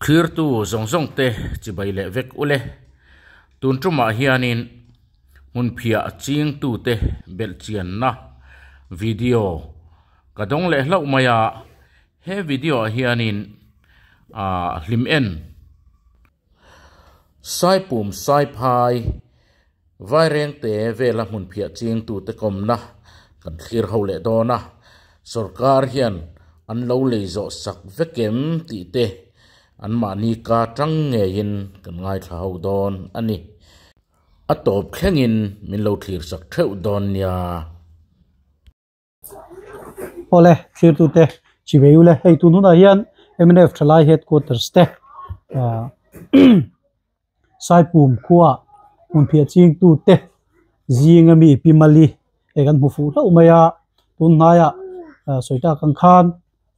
Thirtu zawng zawng te chibai leh vek ule. Tun tumah hianin hmunphia ching tu te belh chian na video ka dawng leh hlauh mai a, he video ah hianin ahh hlim en. Saipum saiphai vairengte vela hmun phiah ching tute kawmna kan thlir ho leh dawn a, sorkar hian an lo lei zawh sak vek em tih te an mahni ka tang ngeiin kan ngaithla ho dawn a ni. A tawp thlengin min lo thlir sak theuh dawn nia. Awle thirtute, Chiveule, hei tun hunah hian mnf thalai headquarters te aah Saipum khua hmun phiah chingtu te zinga mi pi mali hei kan hmu fuh hlauh mai a, tun hnaiah Sawitah khan khan--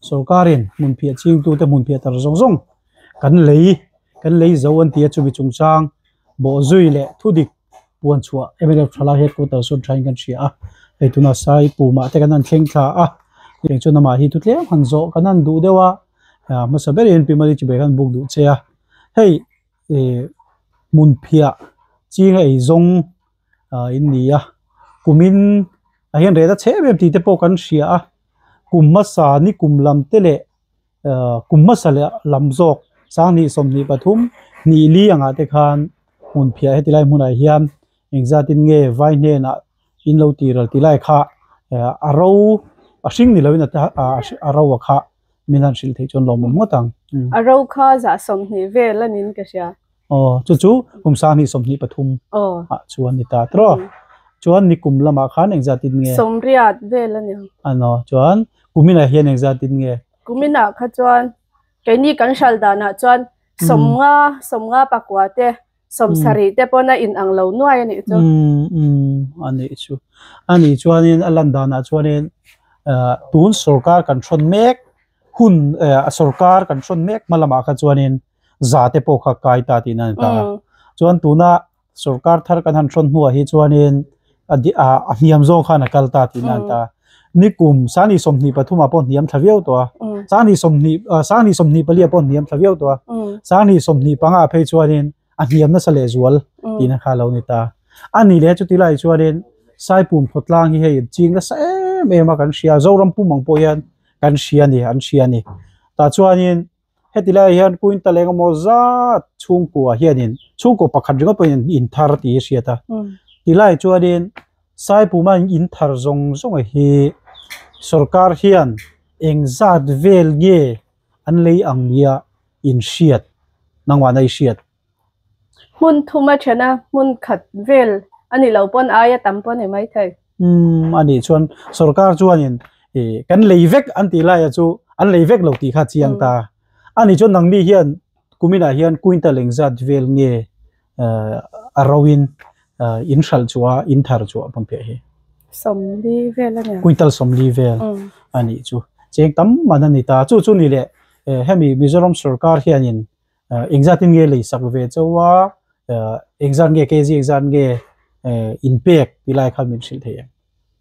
Sorkarin hmunphiah chingtute hmunphiah tar zawng zawng kan lei kan lei zo an ti a, chumi chungchang bawh zui leh thudik puan chhuah mlf tha lai headquarter sawn thain kan hria a, hei tuna sai pumah te kan han thleng thla a, heng chuan amah hi thutlem han zawh kan han duh deuh a, hmasa ber hian Pimali Tibet han buk duh che a, hei hmunphiah chinga ei zawng ah in ni a kumin a hian rehna chhem em tih te pawh kan hria a kum hmasa ni kum lam te leh ah kum hmasa leh lam zawk sanghnih sawmhnih pathum hnih li angah te khan hmun phiah heti lai hmunah hian engzat in nge vai hnenah in lo tih ralh tih lai kha ah a ro a hring ni loin a ta a a ro a kha. Min han hrilh theih chuan lawm ngawt ngawt ang. A ro kha zah sawmhnih vel a nin ka hria. Aw, chu chu kum sang hnih sawmhnih pathum ah chuan ni ta tawh. Chuan ni kum lam ah khan engzat in nge? Sawmriat vel a ni. Ano, chuan kumin ah hian engzat in nge? Kumin ah kha chuan keini kan hral dan ah chuan sawmnga, sawmnga pakua te, sawmsarih te pawn a inang lo nuai a nih chu. Umm umm a nih chu. A nih chuanin a lan danah chuanin ah tun sorkar kan thrawn mek hun ah sorkar kan thrawn mek hma lamah kha chuanin za te pawh kha kai ta tihna a ni ta a. Chuan tuna sorkar thar kan han thrawn hnuah hi chuanin a di a a hniam zawng khan a kal ta tihna an ta a, ni kum sangni sawmhnih pathumah pawh hniam thla viau tawh a, sangni sawmhnih ah sangni sawmhnih palia pawh hniam thla viau tawh a, sangni sawmhnih panga phei chuanin a hniam nasa leh zual tihna kha a lo ni ta a. A ni leh chuti lai chuanin Saipum Khawtlang hi hei an ching nasa em em a kan hria, Zoram pum ang pawh hian kan hria a ni, an hria a ni. Tah chuanin. Heti laiah hian Kuinta leng emaw zat chhungkua hianin chhungkaw pakhat ringawt pawhin an inthar tih a hriat a. Ti laiah chuanin Saipuma in inthar zawng zawnga hi sorkar hian eng zat vel nge an lei ang nia in hriat, nangmahna i hriat. Hmun thum a chhena hmun khat vel a nih loh pawn aia tam pawh a ni mai thei. Umm, a nih chuan sorkar chuanin kan lei vek an tih laia chu an lei vek lo tih kha a chiang ta. A nih chuan nangmi hian kuminah hian kuinta leng zat vel nge a roin in hralh chu a, in thar chu a hman pheh hi? Sawmli vel a nia. Kuintal sawmli vel a nih chu. Cheng tam man a ni ta. Chu chu ni leh, hemi Mizoram sorkar hianin. Engzat in nge lei sak ve cho a, engzat nge kzi engzat nge in pek tih lai khan min hrilh thei em?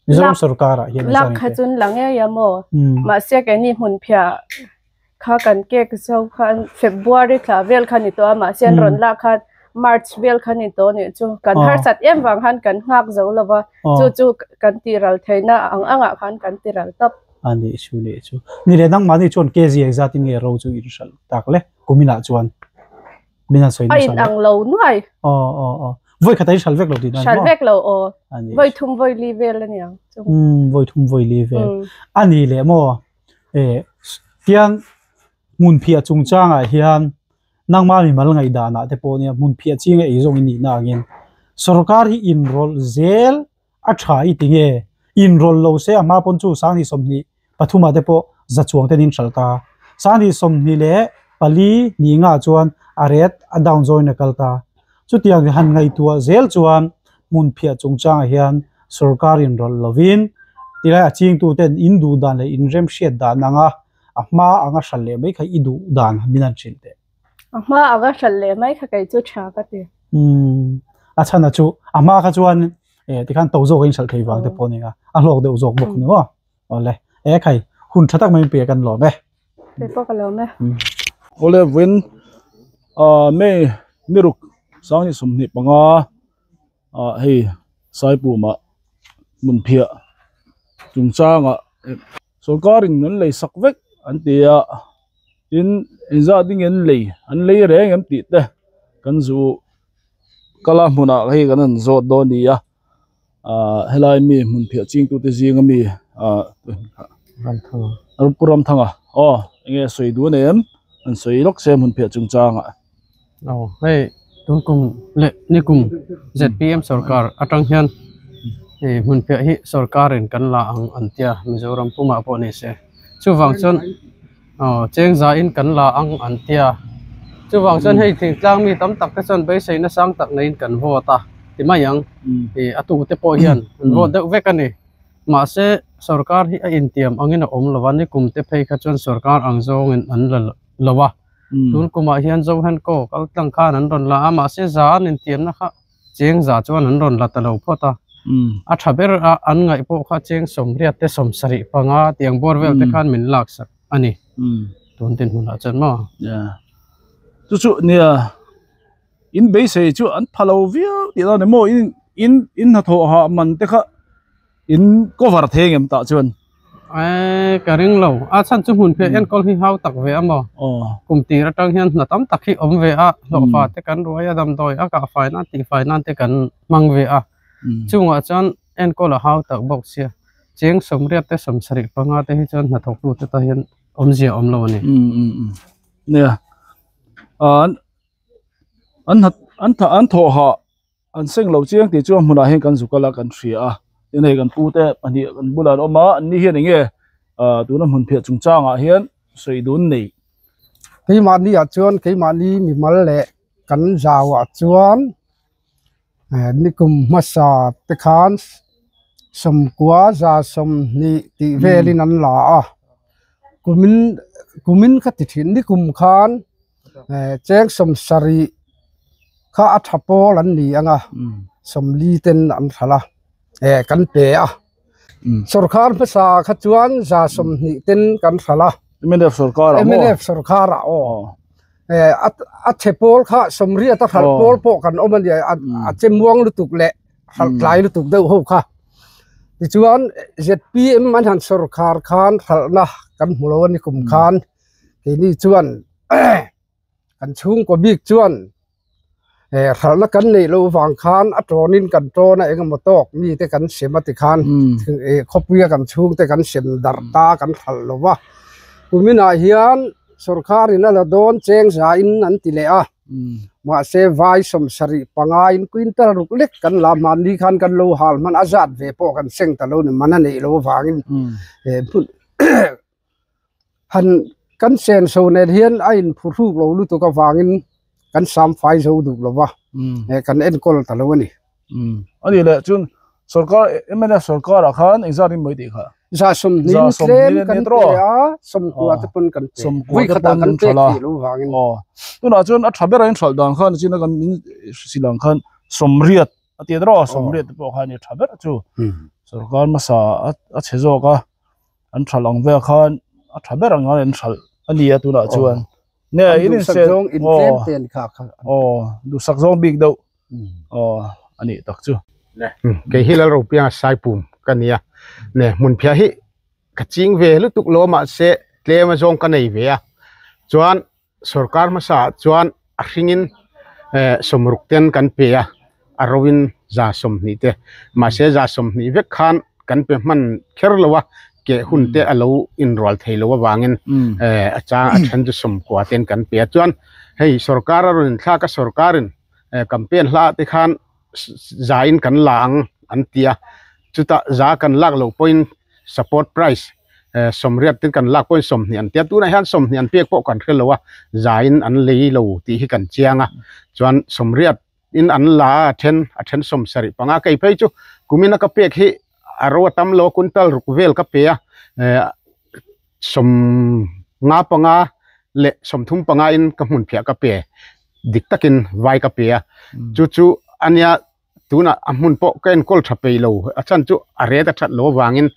Mizoram sorkar ah hian engzat in pek. Lak kha chun la ngei a maw? Mahse kei ni hmun phia kha kan kek zo khan February tla vel khan ni tawh a, mahse an rawn lak khan March vel khan ni tawh nih chu. Kan harsat em vang khan kan nghak zo lo va, chu chu kan tih ral theihna ang ang ah khan kan ti ral tawp. A nih chu nih chu. Ni leh nangmah ni chuan KZ exat in nge ro chu in hralh tak le. Kumin ah chuan. Min an sawi nasa le. A in ang lo nuai. Aw aw aw. Vawi khatah in hral vek lo tih nan maw? Hral vek lo aw. A nih chu. Vawi thum vawi li vel a niang chu. Umm vawi thum vawi li vel. A nih leh maw? Eh. Tiang hmun phiah chung chang ah hian nangma mi mal ngaih dan ah te pawh nia hmun phiah ching a ei zawng in nihna ang in sorkar hi in rawlh zel A tha i ti nge? In rawl lo se a hma pawn chu Sangni sawmhnih pathuma te pawh za chuang ten in hralh ta. Sangni sawmhnih leh pali ni nga chuan a ret a down zawin a kal ta. Chutiang han ngaihtuah zel chuan hmun phiah chungchangah hian sorkar in rawlh lovin ti lai a chingtu ten in duh dan leh in remhriat dan anga a hma anga hral leh mai kha i duh dan min han hrilh teh. A hma a va hralh leh mai kha kei chu tha ka ti. Umm, a chhana chu a hma kha chuan e tikhan to zawk in hralh thei vang te pawh nia a hlawk deuh zawk bawk ni maw? Awle, e khai hun tha tak mai in pe kan lawm e. Pe pawh ka lawm e. Awle vawin a May ni ruk sang ni sawmhnih panga a hei Saipuma hmunphiah chungchanga sawrkarin an lei sak vek an ti a. tin inzah ding en lei an lei reng em tih te kan zu kal a hmunah hei kan han zawt dawn a ni a ahh helai mi hmun phiah ching tu te zing a mi ahh ramthanga pu ramthanga aw enge sawi duh a nen an sawi lawk se a hmun phiah chungchang ah. Aw hei tun kum leh ni kum zpm sawrkar atang hian hei hmunphiah hi sawrkarin kan la ang an tia Mizoram pumah pawh ni se. Chuvang chuan aw chengzain kan la ang an tia chuvang chuan hei thingtlang mi tam tak te chuan beisei nasang tak neiin kan vawt a ti mai ang i a tute pawh hian an vawt deuh vek a ni. Mahse sawrkar hi a intiam angin a awm lo va ni kum te phei kha chuan sawrkar ang zawngin an la lo a. tun kumah hian Johan Kok kal tlang khan an rawn la a, mahse zan intiamna kha cheng za chuan an rawn la ta lo phawt a, a tha ber a, an ngaih pawh kha cheng sawmriat te sawm sarih panga tiang bawr vel te khan min lak sak a ni, tun tin hunah chuan maw. Chu chu nia, in beisei chu an pha lo viau tih a ni maw, in hnathawh hah man te kha. in cover theng em tah chuan eee ka ring lo a chhan chu hmun phia enkawl hi hau tak ve a maw aw kum tir atang hian hna tam tak hi awm ve a hlawhfa te kan ruai a damdawi a kah fai nan tih fai nan te kan hmang ve a chungah chuan enkawl a hau tak bawk sia cheng sawmriat te sawmsarih panga te hi chuan hna thawk lut atang hian awm zia awm lo a ni nia an an an thawh hah An seng lo chiang tih chuan hmunah hian kan zu kal a, kan hria a. Tin hei kan pute pahnih kan bulah an awm a, an ni hian eng nge aah tuna hmun phiah chung changah hian sawi dun nei. Keimahniah chuan keimahni mimal leh kan zauah chuan nikum hmasa te khan sawmkua za sawmhnih tih velin an la a. Kumin kumin ka ti thin nikum khan. eh cheng sawm sarih kha a tha pawl an ni ang a sawmli ten an hralh a eh kan pe a sawrkar hmasa kha chuan za sawmhnih ten kan hralh a M N F sawrkar ah maw M N F sawrkar ah aw eh a che pawl kha sawmriat a hralh pawl pawh kan awm a ni a che muang lutuk leh hralh tlai lutuk deuh ho kha tichuan Z P M a han sawrkar khan hralh na kan hmu lo a ni kum khan. keini chuan kan chhungkaw bik chuan eh hralhna kan neih loh vang khan a tawnin kan tawn a eng emaw tawk mi te kan hrem a ti khan eh khawpui a kan chhung te kan hrem darh ta kan hralh lo va tuminah hian sorkar in a la dawn cheng za in an ti leh a mahse vai sawm sarih pangai in quintal ruk lek kan la mahni khan kan lo hal hman a zat ve pawh kan seng ta lo ni mahna neih loh vang in eh hmun han kan chen chho nen hian a in phu thluk lo lutuk avangin kan sam fai zo duh lo va kan enkawl ta lo a ni a nih leh chuan sorkar mla sorkarah khan engzat rin mawi tih kha zah sawmhni zah sawmhni nen hian kan pe a sawmkua te pawn kan pe sawmkua te pawn kan pek tih lo vangin aw tunah chuan a tha bera in hralh dan khan chin a kan min hrisih dan khan sawmriat a ti ta reuh a sawmriat te pawh khan a ni tha ber chu sorkar hmasa a a chhe zawk a. an tha lang vel khan a tha ber ang hian an hralh a ni a tunah chuan nge in infiam aw aw duhsak zawng bik deuh aw a nih tak chu nge kei hi lal ropianga saipum ka nia nge hmunphiah hi ka ching ve lutuk lo a mahse tlem azawng ka nei ve a chuan. Sorkar hmasa ah chuan a hring in sawmruk te an kan pe a, a ro in za sawmhnih te. Mahse za sawmhnih vek khan kan pe hman kher lo a, keh hun te a lo inrual thei lo avang in a chang a then chu sawm kua te an kan pe a. Chuan hei sorkar a rawn inthlak a, sorkar in campaign hla te khan, za in kan la ang an ti a chutah za kan lak loh pawh in support price eh sawmriat te kan lak pawh in sawmhnih an ti a tunah hian sawmhnih an pek pawh kan hre lo a za in an lei lo tih hi kan chiang a chuan sawmriat in an la a a then a then sawm sarih panga kei phei chu kumina ka pek hi a ro a tam lo a kuntal ruk vel ka pe a eh. Sawm nga panga leh sawm thum pangain ka hmunphiah ka pe dik takin vai ka pe a, chu chu a nia tunah a hmun pawh ka enkawl tha peih lo, a chhan chu a ret a that loh avangin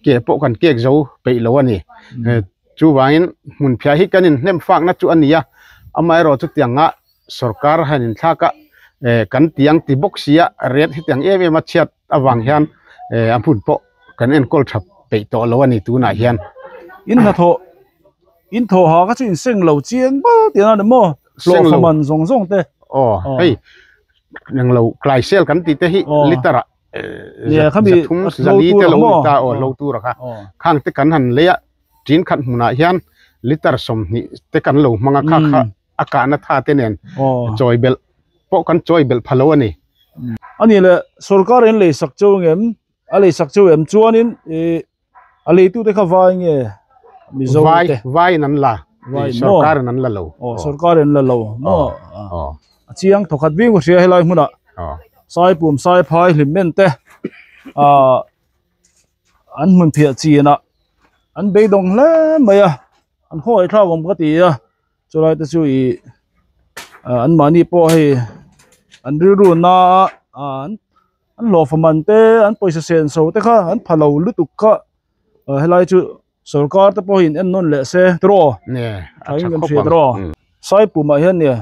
keh pawh kan kek zo peih lo a ni. Chuvangin hmunphiah hi kan inhnem fakna chu a ni a, amaherawh chutianga sorkar han inthlak a kan tiang ti bawk sia ret hetiang em em a chhiat avang hian a hmun pawh kan enkawl tha peih tawh lo a ni tunah hian in hna thawh in thawh ha kha chu in seng lo chiang ba tih ania maw hlawh faman zawng zawng te aw hei eng lo klaisel kan tih te hi litre ah zathum zali te lo ni ta aw hlo tura kha khang te kan han lei a ṭin khat hmunah hian litre sawmhnih te kan lo hmang a kha kha. A kahna tha te nen chawi belh pawh kan chawi belh pha lo a ni. A nih leh, sorkar in lei sak cheu ngem, a lei sak cheu em chuan in ih a lei tu te kha vai nge Mizo te? Vai, vai in an la, ih sorkar in an la lo. Aw, sorkar in an la lo maw? Aw. A chiang thaw khat viau ka hria helai hmun ah Saipum, Saiphai, Hlimmen te ah an hmun phiah chin ah an beidawng hle mai a, an hawi thlak awm ka ti a. Chulai te chu i an mahni pawh hei an rilru na a an hlawhfa man te an pawisa sen so te kha an phalo lutuk kha helai chu sorkar te pawh in en nawn leh se tiraw saipum ah hian nia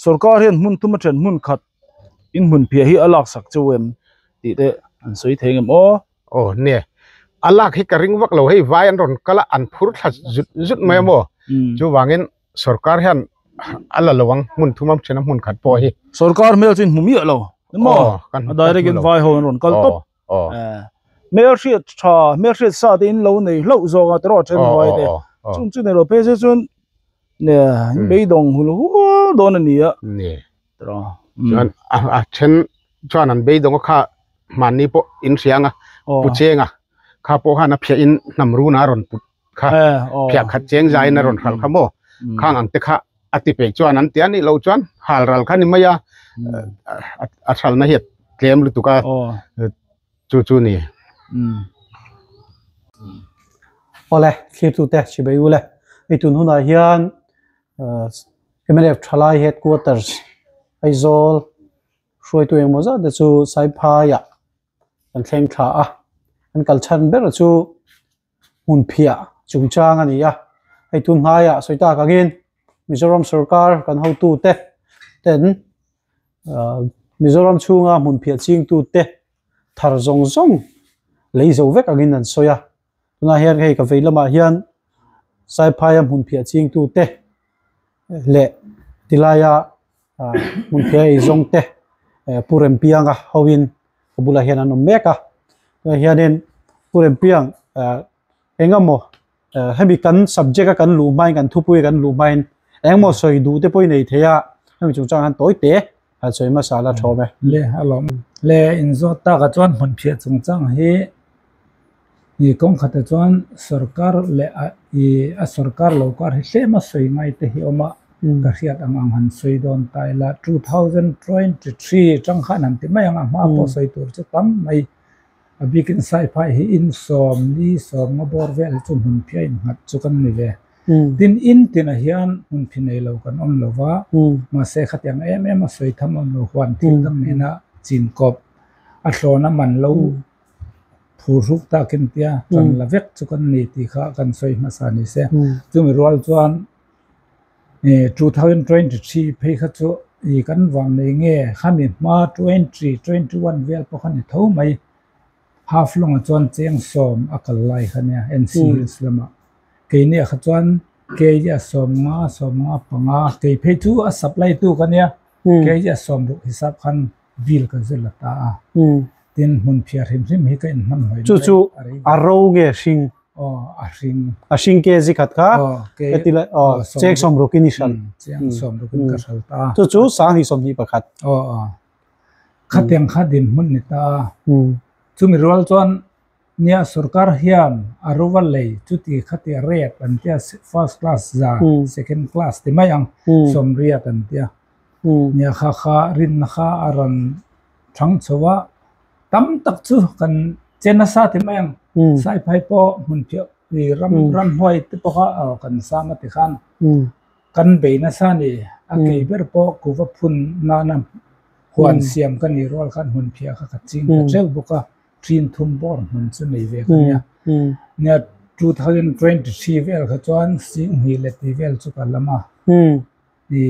sorkar hian hmun thuma then hmun khat in hmun phiah hi a laksak cheu em tih te an sawi thei ang em aw. Aw nia, a lak hi ka ring vak lo, hei vai an rawn kal a, an phur thla zut zut mai a maw? Chuvangin sorkar hian a la lo ang, hmun thumam ṭhena hmun khat pawh hi. Sorkar hmel chu in hmu miah lo em maw? Aw ka hmu lo. A direct in vai ho an rawn kal tawp. Aw aw. Hmel hriat ṭha, hmel hriat sa te in lo nei hlauh zawk a, teraw a ṭhen vai te. Chung chu nei lo, phei zet chuan nia, in beidawng hul hual dawn a nia. chuan a then chuan an beidawngah kha hmanni pawh in hrianga pu chenga kha pawh khan a phiahin hnam runa a rawn put kha phiah khat cheng zain a rawn hral kha maw khang ang te kha a ti peih chuan an ti a nih loh chuan hal ral kha ni mai a a hralna hi a tlem lutuk a chu chu ni. Awle thlir tute Sibaiyule, ei tun hunah hian mnf thalai headquarters Aizawl hruaitu engemaw zat te chu Saiphaiah kan thleng thla a, an kal chhan ber chu hmunphiah chungchang a ni a, hei tun hnaiah sawitak angin Mizoram sorkar kan hotu te ten Mizoram chhunga hmunphiah chingtu te thar zawng zawng lei zo vek angin an sawi a, Tunah hian hei ka vei lamah hian Saiphaia hmun phiah chingtu te leh tilaia hmun phiah ei zawng te Pu Rempianga hoin ka bulah hian an awm mek a. Tunah hianin Pu Rempiang engemaw hemi kan subject-a kan luh hmain, kan thupui kan luh hmain engemaw sawi duh te pawh i nei thei a, hemi chungchang hian tawi te. a chawi masa'n a thawm e. Le a lawm em? Le in zawt takah chuan hmun phiah chungchang hi ih kawng khata chuan sorkar leh a ih a sorkar lo kar hi tlema sawi ngai te hi awm a, ka hriat ang ang han sawi dawn ta ila two thousand twenty three chang khan han ti mai ang a, a hma pawh sawi tur chu tam mai. a biakin saiphai hi insawm ni sawmnga bawr vel chu hmun phiah innghat chu kan ni ve tin in tinah hian hmun phi nei lo kan awm lo va mahse khatiang em em a sawi tham awm lo huan thil dam nena chin kawp a thlawn a man lo phur hruk takin tia chanla vek chu kan ni tih kha kan sawi hmasa ni se chumi rual chuan-- eh two thousand twenty three phei kha chu ih kan vang nei nge khami hma twenty twenty one vel pawh kha ni tho mai half lawng ah chuan cheng sawm a kal lai kha nia N.C. hills lamah keini ah kha chuan kg a sawm nga sawm nga panga kei phei chu a supply tu ka nia kg a sawm ruk hisap khan-- bil ka zir la ta a, tin hmun phiar hrim hrim hi ka inhmanhawi mai. Chu chu a ro nge hring? Aw a hring. A hring kz khat kha ka ti la aw cheng sawmruk in i hral. Cheng sawmruk in ka hral ta a. Chu chu sang hi sawmhnih pakhat. Aw aw. Khatiang kha dinhmun ni ta a. Chumi rual chuan. Nia sorkar hian a ruva lei chuti kha tih rep an tia first class za second class ti mai ang sawmriat an tia nia kha kha rinna kha a rawn thang chho a tam tak chu kan che nasa ti mai ang saiphai pawh hmun phiah ri ram ram huai te pawh kha aw kan sam a ti khan kan bei nasa ni a kei ber pawh kuva phun nana huan siam ka nih rual khan hmun phiah kha ka ching ta teuh bawk a. ṭhinthum bawr hmun chu nei ve ka nia nia two thousand twenty three vel kha chuan Singhmi leh tih vel chu ka lam a i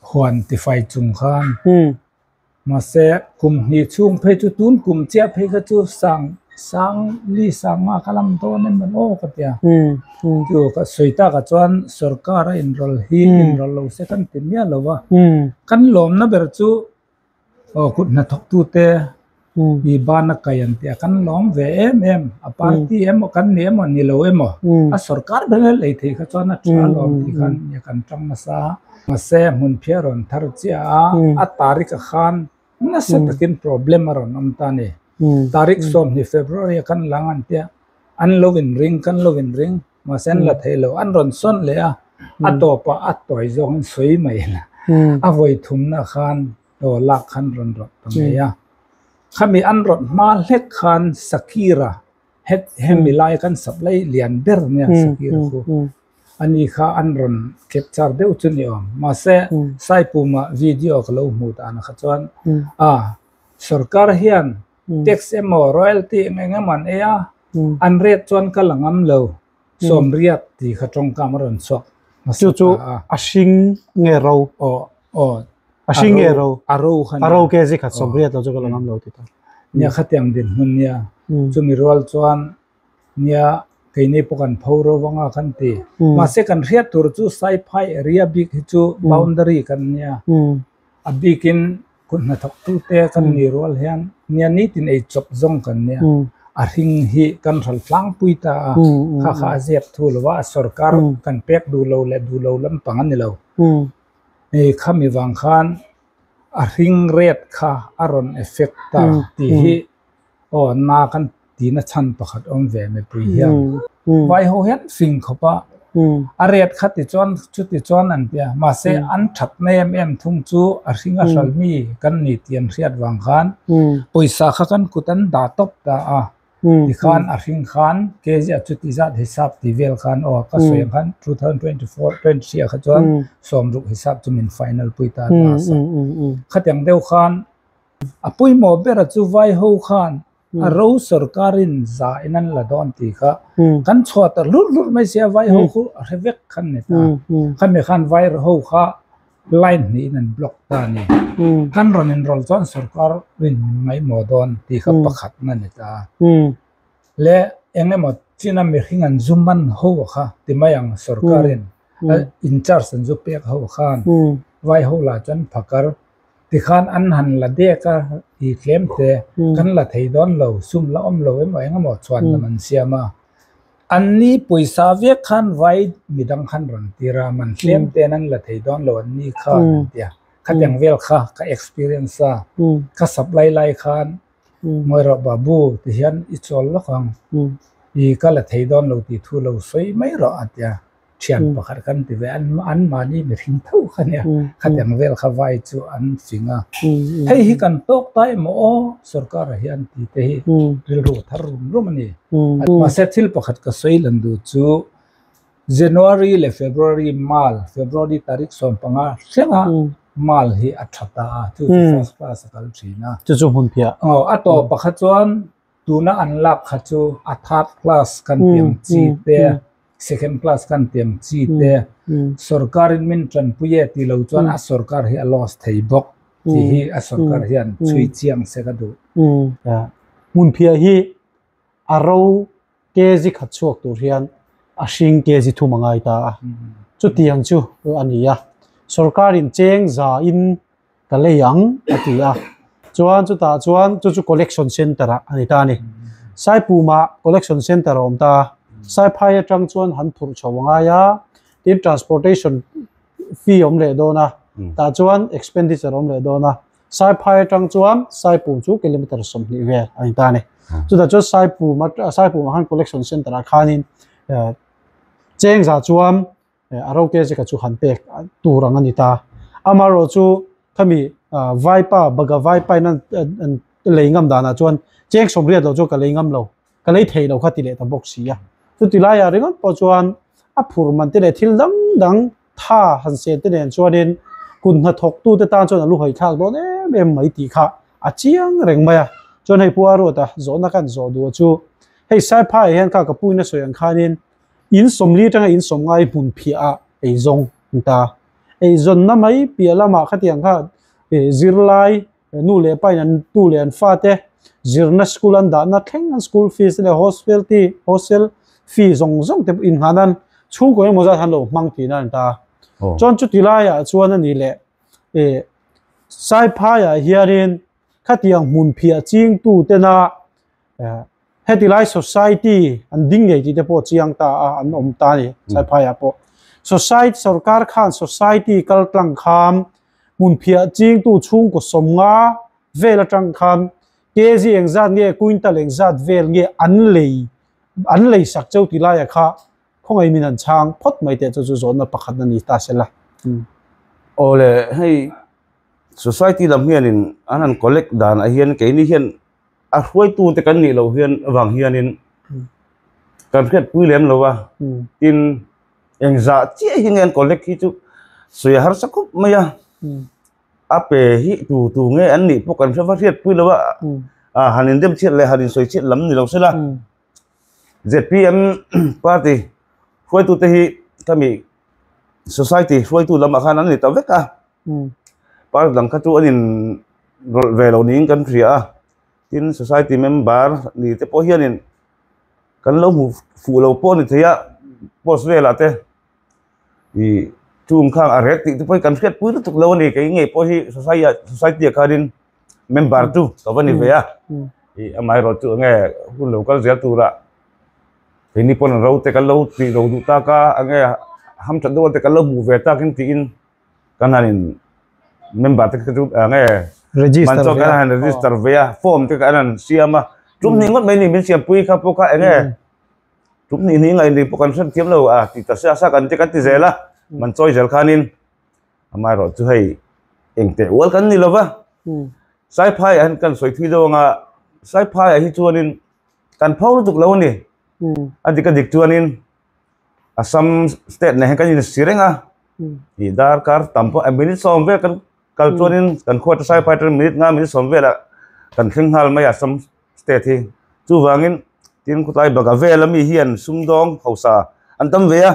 huan tifai chung khan mahse kum hnih chhung phei chu tun kum chiah phei kha chu sang sang ni sangha ka lam dawn em awm aw ka ti a chu ka sawi tak ah chuan sorkara inrawlh hi inrawlh lo se kan ti miah lo va kan lawmna ber chu. Aw kut hnathawk tu te i ban a kai ang tia kan lawm ve em em a party emaw kan ni emaw ni lo emaw a sawrkar ber a lei thei kha chuan a tha lawm tih khan nia kan ṭam nasa a mahse hmun phiah a rawn thar chiah a a tarikh ah khan nasa takin problem a rawn awm ta a ni tarikh sawmhnih February a kan la ang an tia an lo in ring kan lo in ring. mahse an la thei lo an rawn sawn leh a a tawpa a tuai zawk an sawi mai ila a vawi thum na khan aw lak khan rawn rawh ta mai a khami an rawh hma hlek khan sakira het hemi lai khan sak lai lian ber nia sakira chu ani kha an rawn capture deuh chu ni awm mahse saipum ah video ka lo hmuh dan kha chuan a sorkar hian tax emaw royalty eng eng emaw an ei a an rate chuan ka la ngam lo sawmriat tih kha tawngka a rawn chhuak hmasa ta a a hring nge ro aw aw a hring nge ro a ro kha nia a ro kzi khat sawmriat lo chu ka la ngam lo tih ta nia khatiang dinhmun nia chumi rual chuan. Nia, kei nei pawh kan pho ro vang a kan ti. Mahse kan hriat tur chu Saiphai area bik hi chu boundary kan nia. A bikin kut hnathawk tu te kan ni rual hian nia nitin ei chawp zawng kan nia. A hring hi kan hral tlangpui ta a, kha kha a ziak thu lo va, a sorkar kan pek duh lo leh duh lo lampang a ni lo. Hei khami vang khan a hring red kha a rawn effect ta tih hi. Aw an maa kan tina chhan pakhat awm ve mipui hian vai ho hian fing khawp a, a ret kha ti chuan chuti chuan an ti a, mahse an that na em em thung chu a hring a hral mi kan ni tih an hriat vang khan pawisa kha kan kut an dah tawp ta a, tikhan a hring khan kzia chuti zat hisap ti vel khan aw ka sawi ang khan two thousand twenty four twenty three ah kha chuan sawm ruk hisap chu min final pui ta a last a, khatiang deuh khan A pawimawh bera chu vai ho khan a ro sorkarin za in an la dawn tih kha kan chhuah ta hlur hlur mai sia vai ho kha a hre vek khan ni ta khami khan vai ho kha line hnih in an block ta a ni kan rawn enroll chuan sorkar rin ngaihmawh dawn tih kha pakhat a ni ta le eng emaw china mi hring an zu man ho kha ti mai ang sorkarin a in charge an zu pek ho khan vai ho lah chuan phakar. tikhan an han la dek a i tlem hle kan la thei dawn lo sum la awm lo emaw eng emaw chhuan lam an siam a an ni pawisa viak khan vai mi dang khan rawn tir a man hlem te an la thei dawn lo an ni kha an ti a khatiang vel kha ka experience a ka sap lai lai khan ngawi rawh babu ti hian i chawl lawk ang i ka la thei dawn lo tih thu lo sawi mai rawh a ti a. thian pakhat kan ti ve a an mahni mihring tho kha nia khatiang vel kha vai chu an fing a hei hi kan tawk ta emaw aw sorkar a hian tite hi rilru a thar rum rum a ni mahse thil pakhat ka sawi lan duh chu january leh february mal february tarik sawm panga thlengah mal hi a tha ta a chu chu first class a kal thin a a tawp pakhat chuan. Tuna an lak kha chu a third class kan tih ang chi te second class kan tih ang chi te sorkar in min tanpui e tih lo chuan a sorkar hi a loss thei bawk tih hi a sorkar hian chhui chiang se ka duh. Hmunphia hi a ro kg khat chhuak tur hian a hring kg thum a ngai ta a, chutiang chu a ni a. Sorkar in cheng za in. ka lei ang a ti a. Chuan chutah chuan chu chu collection centre ah a ni ta a ni. Saipumah collection centre a awm ta a, Saiphai atang chuan han phurh chho a ngai a, tin transportation fee awm leh dawn a, tah chuan expenditure awm leh dawn a, Saiphai atang chuan Saipum chu kilometre sawmhnih vel a ni ta a ni. Chutah chuan Saipum a, Saipumah khan collection centre ah khanin cheng zah chuan a rote zeka chu han pek tur ang a ni ta. Amaherawh chu khami vaipa baga vaipa in an lei ngam danah chuan cheng sawm riat lo chu ka lei ngam lo, ka lei thei lo kha ti leh ta bawk si a. Chuti laiah ringawt pawh chuan a phur man te leh thil dang dang tha han siam te nen chuanin kun hna thawk tute tan chuan a lu hawi thlak dawn em em mai tih kha a chiang reng mai a. Chuan hei Puaruata zawhna ka han zawh duh chu hei Saiphaiah hian kha ka puina sawi ang khanin, In sawmli atanga in sawm ngai hmun phiah ah ei zawng ni ta. Ei zawnna mai piah lam ah khatiang kha zirlai nu leh pa in an tu leh an fa te zirna school an dahna thleng an school fees te leh hostel te hostel fee zawng zawng te pawh in nghan an chhungkaw emaw zat han lo hmang tihna a ni ta. Chuan chuti lai ah chuan a nih leh Saiphai ah hian in khatiang hmun phiah ching tu te na heti lai society an ding nei tih te pawh chiang ta a an awm ta ni saiphai ah pawh society sorkar khan society kal tlang kham hmun phiah ching tu chhung kaw sawm nga vel atang kham kg eng zat nge kuintal eng zat vel nge an lei an lei sak cheu ti lai a kha khawngaih min han chang phawt mai teh chu chu zawnna pakhat a ni ta se la awle hei society lam hian in an han collect dan ah hian keini hian a hruaitu te kan nih loh hian vang hianin kan hriatpui lem lo a tin eng zah chiah hi nge an collect hi chu sawi a harsa khawp mai a a pe hi tu tu nge an nih pawh kan hre va hriatpui lo a a han indem chhiat leh han insawi chhiat lam ni lo se la zpm party hruaitute hi khami society hruaitu lamah khan an ni ta vek a party dang kha chu an in rawlh ve lo niin kan hria a tin society member ni te pawh hianin kan lo hmu fuh lo pawh a ni thei a post velah te i chungkhang a rêt tih te pawh hi kan hriatpui lutuk lo a ni, kei ngei pawh hi society-a khanin member chu ka va ni ve a, i amaherawhchu chu enge hun lo kal zel tura keini pawn ro te kan lo tih ro duh tak a, enge ham that deuh ate kan lo hmu ve takin tiin kan hanin member te chu enge register ve a, form te kan han siam a, tum ni ngawt mai a ni min siampui kha pawh kha enge Tum hnih hnih ngaih leh pawh kan hran thiam lo a, tih ta se a, sa kan ti kan ti zel a, man chawi zel khanin amaherawh chu hei engteh ual kan ni lova, Saiphaiah hian kan sawi thui deuh anga Saiphaiah hi chuanin kan pho lutuk lo a ni, a dik a dik chuanin Assam state neh hian kan insi reng a, ih darkar tam pawh a minutes a awm vek a, Kal chuanin kan khuata sai phai atan minute nga minute sawm velah kan thleng nghal mai a Som State hi. Chuvangin tin khutlai baka vel ami hian sumdawng hausa an tam ve a.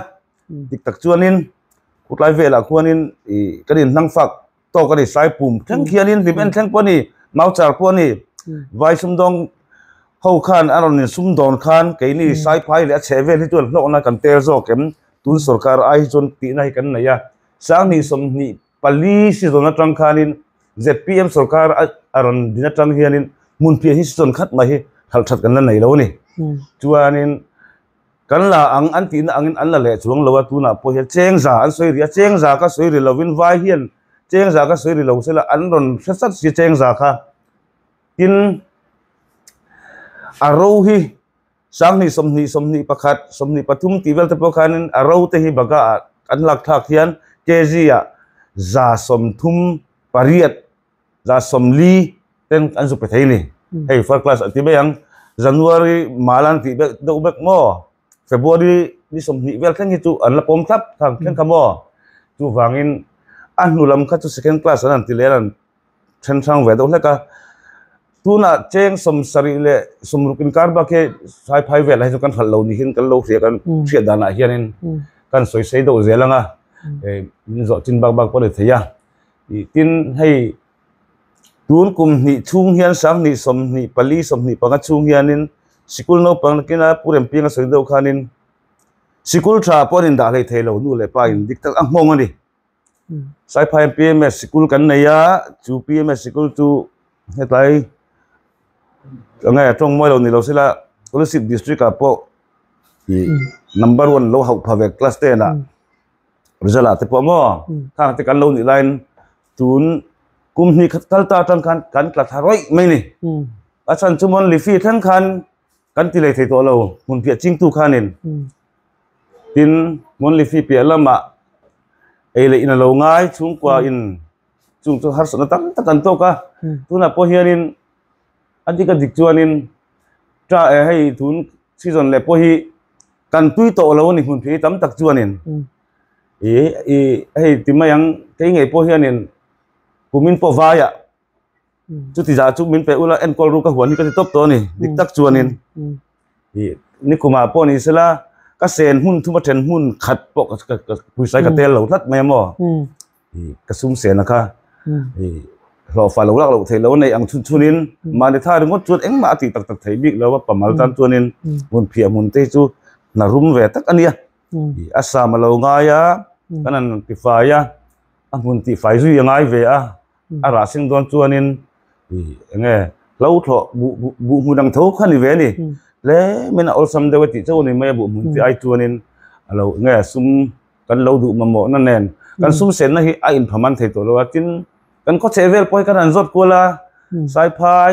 Dik tak chuanin khutlai velah khuanin i kan inhlang fak tawk a ni. Sai pum thleng khianin hlim en thleng pawh a ni, mau char pawh a ni. Vai sumdawng ho khan an rawn insum dawn khan keini sai phai leh a chheh vel hi chu an hlawkna kan tel zawk em? Tun sorkar ai hi chuan tihna hi kan nei a. Sanghnih sawmhnih Pali sizawn atang khanin zpm sorkar a rawn din atang hianin hmun piah hi sizawn khat mai hi hralh that kan la nei lo a ni. Chuanin kan la ang an tihna angin an la leh chuang lo a, tunah pawh hian chengza an sawi ri a, chengza ka sawi ri lovin vai hian chengza ka sawi ri lo se la an rawn hre sat si a chengza kha. Tin, a ro hi Sanghnih, sawmhnih, sawmhnih pakhat, sawmhnih pathum tih vel te pawh khanin a ro te hi baga ah kan lak thlak hian KG ah za sawmthum pariat, za sawmli ten an zuk pe thei ni. Hei first class an ti mai ang. January mal an tih bek deuh bek maw? February ni sawmhnih vel thleng hi chu an la pawm thlap thlak thleng kha maw? Chuvangin a hnulam kha chu second class an han ti leh a lan. then hrang ve deuh hlek a, tunah cheng sawm sarih leh sawm ruk inkar bak hi sai phai velah hi chu kan hralh lo niin kan lo hria kan hriat danah hianin kan sawi sei deuh zel anga min zawh tin bak bak pawh a ni thei a, tin hei tun kum hnih chhung hian hrang hnih sawm hnih pali sawm hnih panga chhung hianin sikul naupang nakina pu Rempianga sawi deuh khanin sikul tha pawh an indah hlei thei lo nu leh pa in dik tak a nghawng a ni. Saiphai PMS sikul kan nei a, chu PMS sikul chu hetlai ange a tawng mawi lo ni lo sela Kolasib district ah pawh number one lo hauh pha ve class ten ah result ah te pawh maw khang te kan lo nih lain tun kum hnih khat kal ta atang khan kan tla thla raih mai ni a chhan chu monthly fee thleng khan kan ti lei thei tawh lo hmun piah chingtu khanin tin hmun lifi piah lamah ei leh in alo ngai chhungkua in chung chu harsatna tam tak an tawk a tunah pawh hianin a dik a dik chuanin ta eh hei tun season leh pawh hi kan tui tawh lo ani hmun phei tam tak chuanin i i hei ti mai ang kei ngei pawh hianin kumin pawh vaiah chu ti za chu min pe ula en kol ru ka huan hi ka ti top to ni dik tak chuan in hi ni khuma po ni sela ka sen hun thuma then hun khat po ka ka pui sai ka tel lo hlat mai mo hi ka sum sen kha hi lo fa lo lak lo thei lo nei ang chun chun in ma ni tha ringot chuan engmah ati tak tak thei bik lo wa pamal tan chuan in mun phia mun te chu na rum ve tak ania hi asam lo ngai a kanan ti fai a a mun ti fai zui ngai ve a a rah sing dawn chuanin eng nge hlothlawh buh hmun ang tho kha ni ve ni tlem in a awlsam deuh e tih chauh a ni mai a buh hmun te ai chuanin a lo eng nge sum kan lo duh mamawhna nen kan sum senna hi a inphaman thei tawh lo a tin kan khawchheh vel pawh hi kan han zawt kual a saiphai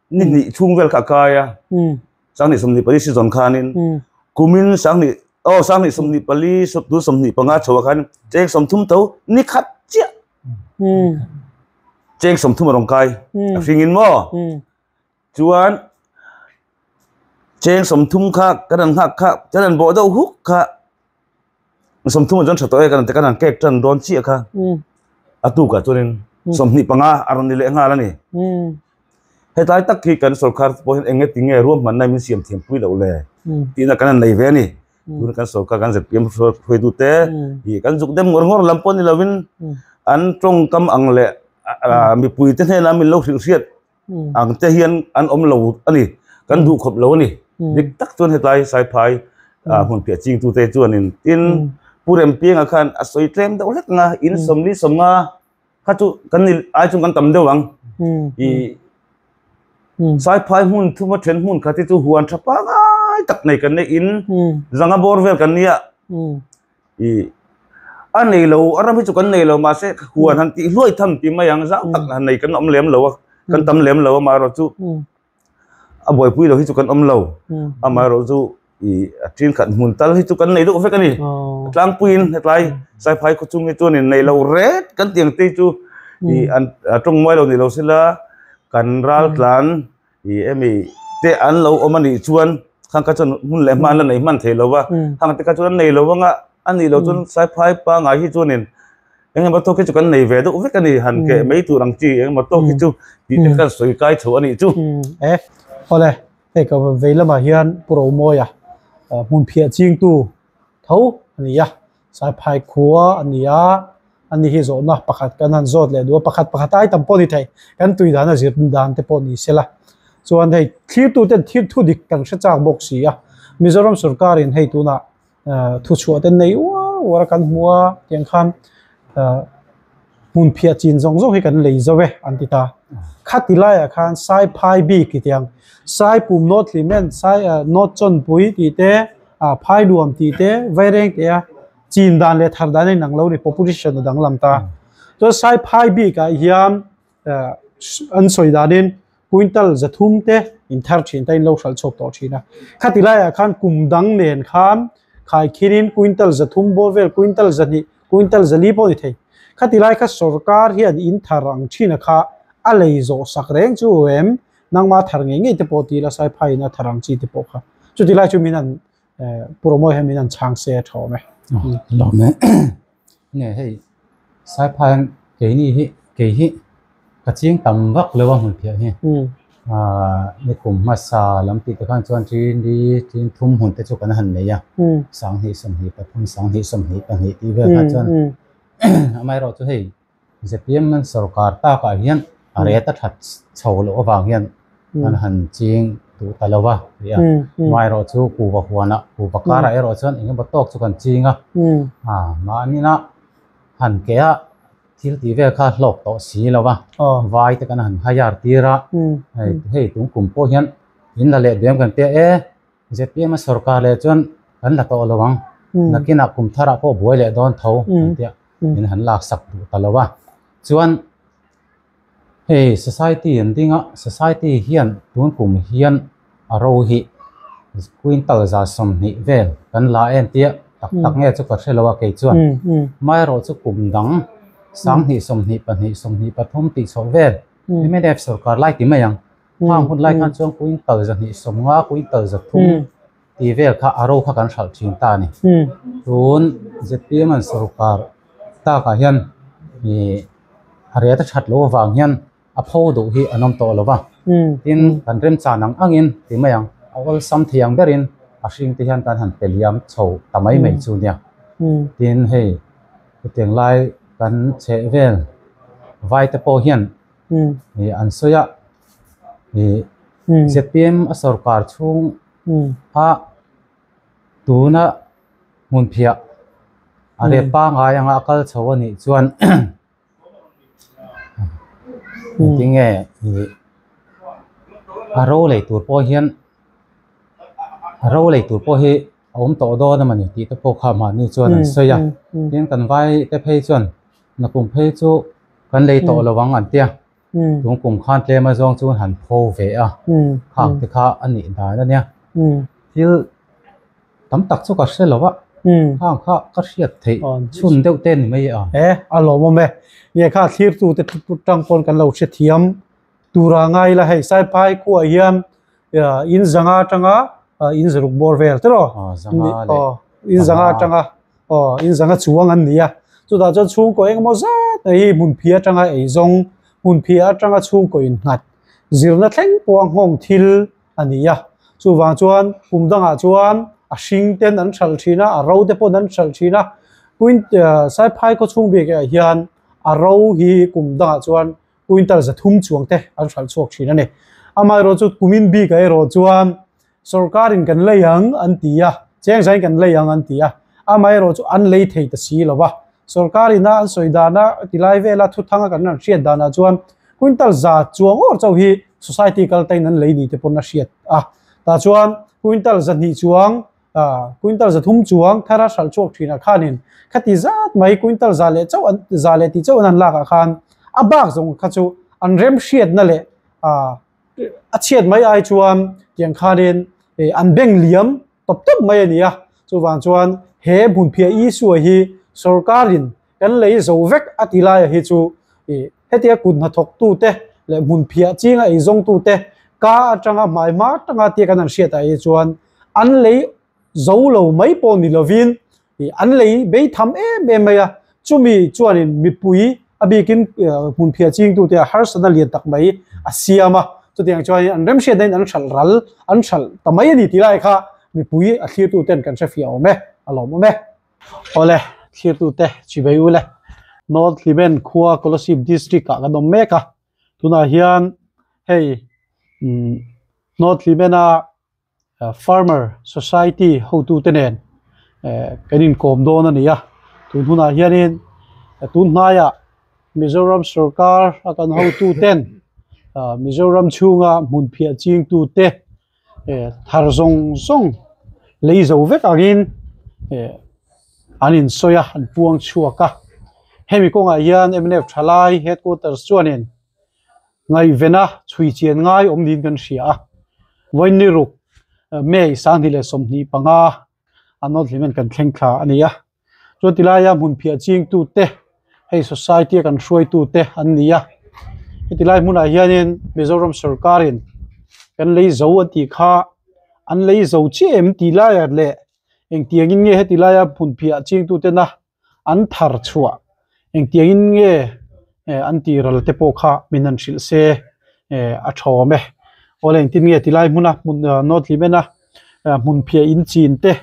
ni hnih chhung vel kha a kai a sang hnih sawmhnih pali sizawn khanin kumin sang hnih aw sang hnih sawmhnih pali tu sawmhnih panga chho a khan cheng sawm thum tho ni khat chiah cheng sawm thum a rawn kai a hringin maw chuan cheng sawm thum kha ka rawn nghak kha ka rawn bawh deuh huk kha som thum jon thatawh e kan kan an kek tan don chiah kha atu ka tunin som ni panga aron ni leh nghal ani hetlai tak khi kan sorkar poin eng nge ti nge ruam man nai min siam thiam pui lo le ti na kan an nei ve ani tun kan sorkar kan zpm phoi du te hi kan zuk dem ngor ngor lam pawh ni lovin an tawngkam ang le mipui te hne na min lo hrilh hriat ang te hian an awm lo a ni kan duh khawp lo a ni dik tak chuan hetlai saiphai a hmun piah ching tute chuanin tin pu rempianga khan a sawi tlem deuh hlek anga in sawm li sawm nga kha chu kan ni ai chu kan tam deuh ang i saiphai hmun thuma then hmun kha te chu huan tha pangai tak nei kan nei in zanga bawr vel kan nia i a nei lo a ram hi chu kan nei lo mahse huan han tih hluai tham ti mai ang zau tak han nei kan awm lem lo a kan tam lem lo amaherawh chu a buaipui lo hi chu kan awm lo amaherawh chu i a ṭin khat hmun tal hi chu kan nei duh vek a ni tlangpuiin hetlai saiphawi khaw chhung hi chuanin nei lo ret kan tih ang te chu i an a ṭawng mual lo neih lo se la kan ral tlan i emi te an lo awm a nih chuan khangka chuan hun leh hma an la nei hman thei lo va khang te kha chuan an nei lo vang a a nih lo chuan phai pangai hi chuanin eng emaw tawk hi chu kan nei ve deuh vek a ni han keh mai tur ang chi eng emaw tawk hi chu tih te kan sawi kai tho a nih chu e awle hei ka vei lamah hian promoia hmun phiah chingtu tho a ni a. Saiphai khua a ni a, a ni hi zawhna pakhat kan han zawt leh duh, pakhat pakhat ai tam pawh ni thei, kan tui dana zir dan te pawh ni se la, chuan hei thirtu ten thil thu dik kan hre chak bawk si a, Mizoram sawrkarin hei tunah thu chhuah te nei uar uar a kan hmu a, tiang khan hmun phiah chin zawng zawng hi kan lei zo e an ti ta. Khati laia khan sai phai bik ti tiang sai pum naw thli men sai naw chawn pui tih te a phai luam tih te vaireng teh a chin dan leh thar dan a inang lo a ni proposition a dang lam ta chuan sai phai bik ah hian an sawi danin kuintal za thum te in thar thin te in lo hralh chhuak tawh thin a. Khati laiah khan kum dang nen khan khai khinin kuintal za thum bawr vel, kuintal za hnih, kuintal za li pawh ni thei. Khati lai kha sorkar hian in thar ang thin a kha a lei zawh sak reng chu em nangma thar ngei ngei te pawh tih ila sai phaiin a thar ang chi te pawh kha chuti lai chu min an puramawi hian min an chhang se a thawm e. Hlawm e. Nge hei, Saipa hian keini hi, kei hi ka chiang tam vak lo a hmun phiah hi. Nikum hmasa lam tih te khan chuan ṭin ri, ṭin thum hmun te chu kan han nei a, sang hnih sawm hnih pathum, sang hnih sawm hnih pahnih tih vel khan chuan amaherawhchu hei, Ztm nan sorkar takah hian a reta that chho loh avang hian nan han ching duh ta lo va ri a, amaherawh chu kuhva huanah kuhva karah erawh chuan eng emaw tawk chu kan ching a, mahnia han ke a thil tih vel kha hlawk tawh si lo va, vai te kan han hire tir a, hei kum pawh hian in la leh bial kan tia e. Ztm a sorkar leh chuan kan la tawh lo ang, nakinah kum tharah pawh buai leh dawn tho kan tih a, min han lak sak duh ta lo a. Chuan hei society an ding a, society hian tun kum hian a ro hi quintal za sawmhnih vel kan la em tih a, tak tak nge chu ka hre lo a kei chuan. Amaherawh chu kum dang sanghnih sawmhnih pahnih sawmhnih pathum tih chhoh vel MNF sorkar lai ti mai ang. hang hun lai khan chuan quintal zahnih sawmnga quintal zathum tih vel kha a ro kha kan hralh thin ta a ni tun ztm an sorkar takah hian ihh a riat a that loh avang hian a pho duh hi an awm tawh lo va tin kan remchang ang ang in ti mai ang a awlsam thei ang berin a hring te hian kan han pe liam chho ta mai mai chu nia tin hei hetiang lai kan chheh vel vai te pawh hian-- an sawi a zepm a sawrkar chhung a tuna hmunphiah a rep pangai anga a kal chho a nih chuan tinge a ro lei tur pawh hian a ro lei tur pawh hi a awm tawh dawn a mawni tih te pawh kha mahni chuan an sawi a tin kan vaite phei chuan. Na kum phei chu kan lei tawh lo ang an ti a, tun kum khan tlem azawng chu han pho ve a, khak te kha a nih dan a nia, thil tam tak chu ka hre lo a, khang kha ka hriat theih chhun deuh te ni mai a. He a lawm awm e, nge kha thlir tute ṭang pawn kan lo hrethiam. Tura ngai ila hei saipai khuaah hian in zanga atanga in zaruk bawr vel te rawh. Aw zanga leh zanga. Aw in zanga atanga aw in zanga chuang an ni a. Chutah chuan chhungkaw eng emaw zat mai hi hmun phia atanga ei zawng, hmun phia atanga chhungkaw in nghat zirna thleng pawh a nghawng thil a ni a. Chuvang chuan kum dangah chuan a hring ten an hralh thin a, a ro te pawn an hralh thin a. Puinte saipai khaw chhung bikah hian a ro hi kum dangah chuan. Quintal za thum chuang te an hralh chhuak thin a ni. Amaherawh chu kumin bika erawh chuan sorkarin kan lei ang an ti a, chengzain kan lei ang an ti a, amaherawh chu an lei thei ta si lo va, sorkar ina an sawi dan a ti lai vela thuthang a kan rawn hriat danah chuan quintal za chuang awr chauh hi society kaltaiin an lei ni te pawn a hriat a, tah chuan quintal za hnih chuang Aa, Quintal za thum chuang thar a hralh chhuak thinah khanin khati zat mai Quintal za leh chauh an, za leh ti chauh an han lakah khan a bak zawng kha chu an rem hriatna leh aa a chhiat mai ai chuan tiang khanin ee an beng liam tawp tawp mai a ni a. Chuvang chuan he hmunphiah Isua hi sorkarin Kan lei zo vek a ti laia hi chu i, hetia kut hna thawk tu te leh hmun phiah ching a ei zawng tu te ka atanga hmai hma tanga tia kan han hriat ah hi chuan an lei zo lo mai pawh ni lovin i an lei bei tham em em mai a, chumi chuan in mipui a bikin hmun phiah ching tu te ah harsatna lian tak mai a siam a, chuti ang chuan in an remhriat na in an hralh ral an hralh ta mai a ni ti lai kha mipui a thlir tu ten kan hre fih a awm e, a lawm awm e. Awle, thlirtute, chhi ve ule. North Hlimen khua Kolasib District ah kan awm mek a, tunah hian hei North Hlimena Farmer Society hotute nen kan inkawm dawn a ni a, tun hunah hianin tun hnaiah Mizoram sorkar a kan hotuten Mizoram chhunga hmunphiah chingtute, eh thar zawng zawng lei zo vek angin eh an insawi a an puang chhuak a hemi kawngah hian mnf tha lai headquarters chuanin ngaihven a chhui chian ngai awm niin kan hria a vawinniruk may sanghnih leh sawmhnih panga an nawr thlimin kan thleng thla a ni a. Chuan ti laia hmun phiah chingtute hei society-a kan hruaitute an ni a. Heti lai hmunah hianin Mizoram sawrkarin kan lei zo a tih kha an lei zo chiah em tih laia leh engtiangin nge heti laia hmun phiah chingtutena an thar chhuah Engtiangin nge an tiral te pawh kha min han hrilh se a thawm e. Awle engtin nge tilai hmuna hmun nawt hlim ena hmunphiah in chin te,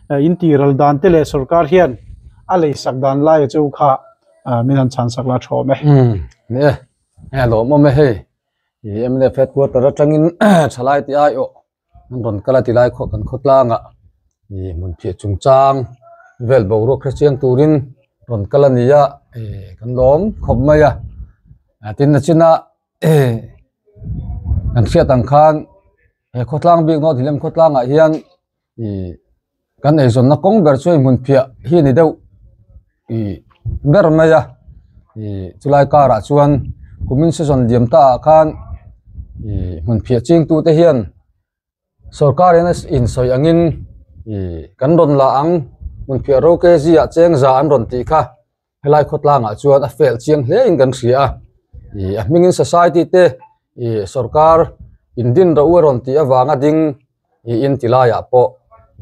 in tiral dan te leh sorkar hian a lei sak dan laia cheu kha min han chhan sak la a thawm e. Ni e. Enge lawmawm e hei? I MNF headquarter atangin thalai tih aiawh. An rawn kal a ti lai khawh kan khaw tlangah ih hmun phiah chungchang vel boruak hre chiang turin rawn kal a nia ih kan lawm khawp mai a, tin a chinah ih kan hriat ang khan he khawtlang bik naute lem khawtlangah hian ih-- Kan eizawnna kawng ber chuan hmun phiah hi a ni deuh ih ber mai a, ih chulai karah chuan kumin sezawn liam ta ah khan ih hmun phiah ching tu te hian sorkar in a insawi ang in ih kan rawn la ang hmun phiah ro kg ah cheng za an rawn tih kha. Helai khawtlangah chuan a fel chiang hle in kan hria a, ih a hmingin society te ih sorkar indin rah u a rawn tih avanga ding ih in tilaiah pawh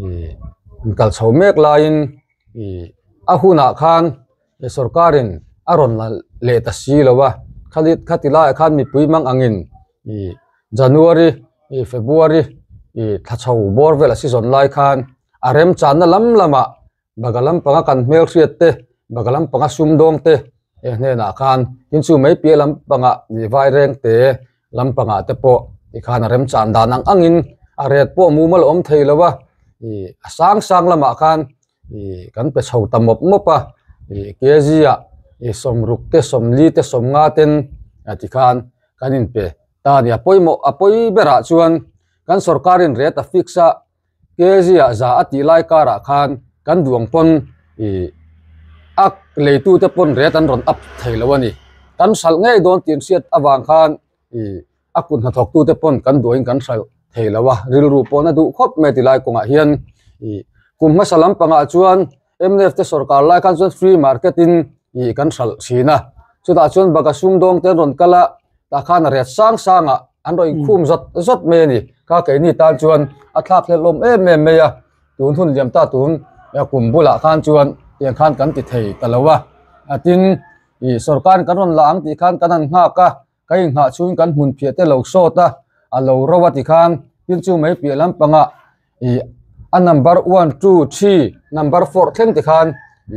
ih in kal chho mek laiin ih a hunah khan ih sorkarin a rawn la leh ta si lo a, khati khati laiah khan mipui mang angin ih January ih February ih thlachho bawr vel a sizawn lai khan a remchanna lam lamah Baka lampanga kan hmelhriat te, baka lampanga sumdawng te e hnenah khan tin chu mai piah lampanga nih vai reng te lampanga te pawh ih khan a remchhan dan ang angin a ret pawh mumal a awm thei lo a, ih a sang sang lamah khan ih kan pe chho ta mawp mawp a, ih kg a ih sawmruk te, sawmli te, sawmnga ten ti khan kan inpe ta a ni a, pawimawh a pawi berah chuan kan sorkarin rate a fix a, Asia za a tih lai karah khan kan duang pawn ih a leitute pawn ret an rawn ap thei lo a ni. Kan hralh ngei dawn tih an hriat avang khan ih a kut hna thawk tute pawn kan duaiin kan hralh thei lo a, rilru pawna duh khawp mai ti lai kawngah hian ih kum hmasa lampangah chuan, mnf te sawrkar lai khan chuan free market in ih kan hralh thin a chutah chuan baka sum dawng te an rawn kal a tah khan a riat sang sang a an rawn inkhum zat zat mai a ni kha keini tan chuan a thlak hlelhlawm em em mai a tun hun liam ta tun kum bulah khan chuan heng khan kan ti thei ta lo a a tin ih sawrkar in kan rawn la ang tih khan kan han nghak a. Ka inghah chuin kan hmun phiah te lo sawt a, a lo ro a ti khan tin chu mai piah lampangah ih a number one two three number four thleng te khan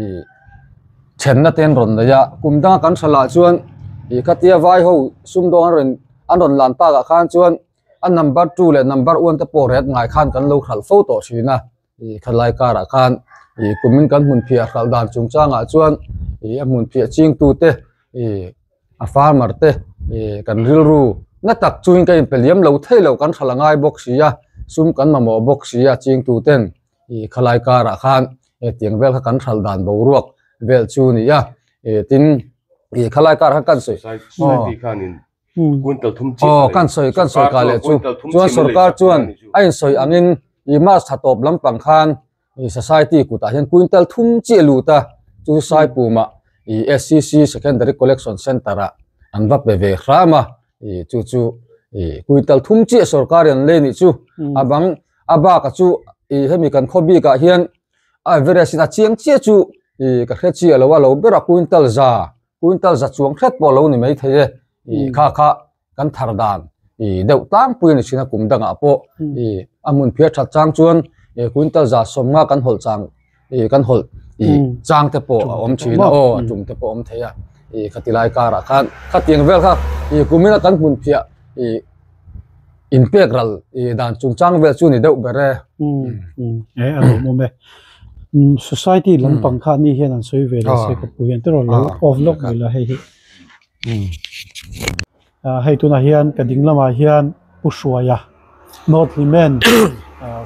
ih chhenna te an rawn nei a, kum danga kan hra lah chuan ih khatia vai ho sumdawng an rawn an rawn lan bakah khan chuan a number two leh number one te pawh riat ngai khan kan lo hral fo tawh thin a. Ih kha lai karah khan ih kumin kan hmun phiah hralh dan chung changah chuan ih a hmun phiah chingtute ih a farmer te ih kan rilru na tak chuin ka inpe liam lo thei lo kan hralh a ngai bawk si a, sum kan mamawh bawk si a chingtuten ih kha lai karah khan hetiang vel kha kan hralh dan boruak vel chu ni a. Ih tin ih kha lai karah khan kan sawi aw. Aw, kan sawi, kan sawi ka leh chu. Chuan sorkar chuan a insawi angin i March tha tawp lampang khan i society kutah hian quintal thum chi a lut a, chu Saipumah i SCC secondary collection centre-ah an va pe ve hram a, i chu chu i quintal thum chi a sorkar i an lei nih chu. A bang a bakah chu i hemi kan khaw bikah hian a Everest-in a chiang chiah chu i ka hre chiah loh a lo bera quintal za. Quintal za chuang hret pawh lo ni mai thei e, i kha kha kan thar dan i deuh tlangpui a ni chhin a kum dangah pawh i a hmun phiar that chang chuan i quintal za sawmnga kan hawlh chang i kan hawlh i chang te pawh a awm thin a aw a tum te pawh a awm thei a i khati lai karah khan khatiang vel kha i kumina kan hmun phiah i in pek ral i dan chung chang vel chu ni deuh ber e. He a lo awm e. Society lampang kha ni hian an sawi ve leh se ka pu hian te rawh lo off lawk mai la hei hi. Hei tunah hian ka ding lamah hian Pu Hruaia North Limen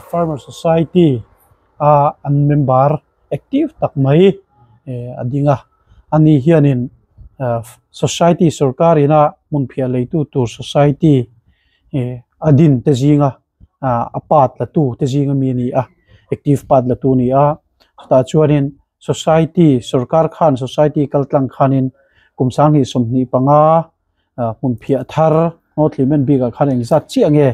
Farmer Society a an member active tak mai a ding a, ani hianin society sorkarin a hmun phiah lei tu tur society a din te zinga a part la tu te zing ami a ni a, active part la tu a ni a, chutah chuanin society sorkar khan society kal tlang khanin kum sanghnih sawmhnih panga. Ahh hmun phiah thar North Limen bik ah khan engzat chiah nge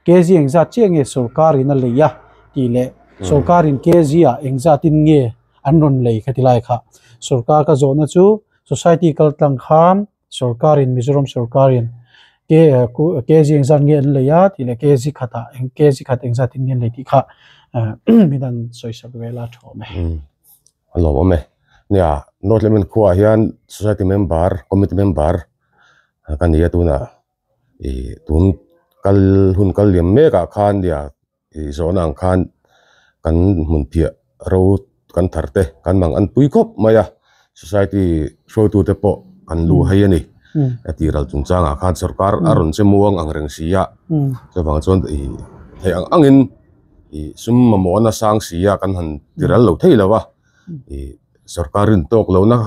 KZ engzat chiah nge sorkar in a lei a tih leh sorkar in KZ ah engzat in nge an rawn lei ka ti lai kha sorkar ka zawh na chu society kal tlang khan sorkar in Mizoram sorkar in KZ engzat nge an lei a tih leh KZ khat ah KZ khat engzat in nge an lei tih kha min han sawisat vel a thawh mai. A lo awm e. Nia, North Lehman khuaah hian Society member, Committee member ka ni a tunah ih tun kal hun kal liam mekah khan nia ih zawhna ang khan kan hmunphiah ro kan thar te kan mang an pui khawp mai a, Society hruaitute pawh kan luh hai a ni a tih ral chung changah khan sorkar a rawn che muang ang reng si a, chuvang chuan ih theih ang angin. ih sum mamawh a na sang si a kan han ti rel lo thei lo a ih sorkar rin tawk lo na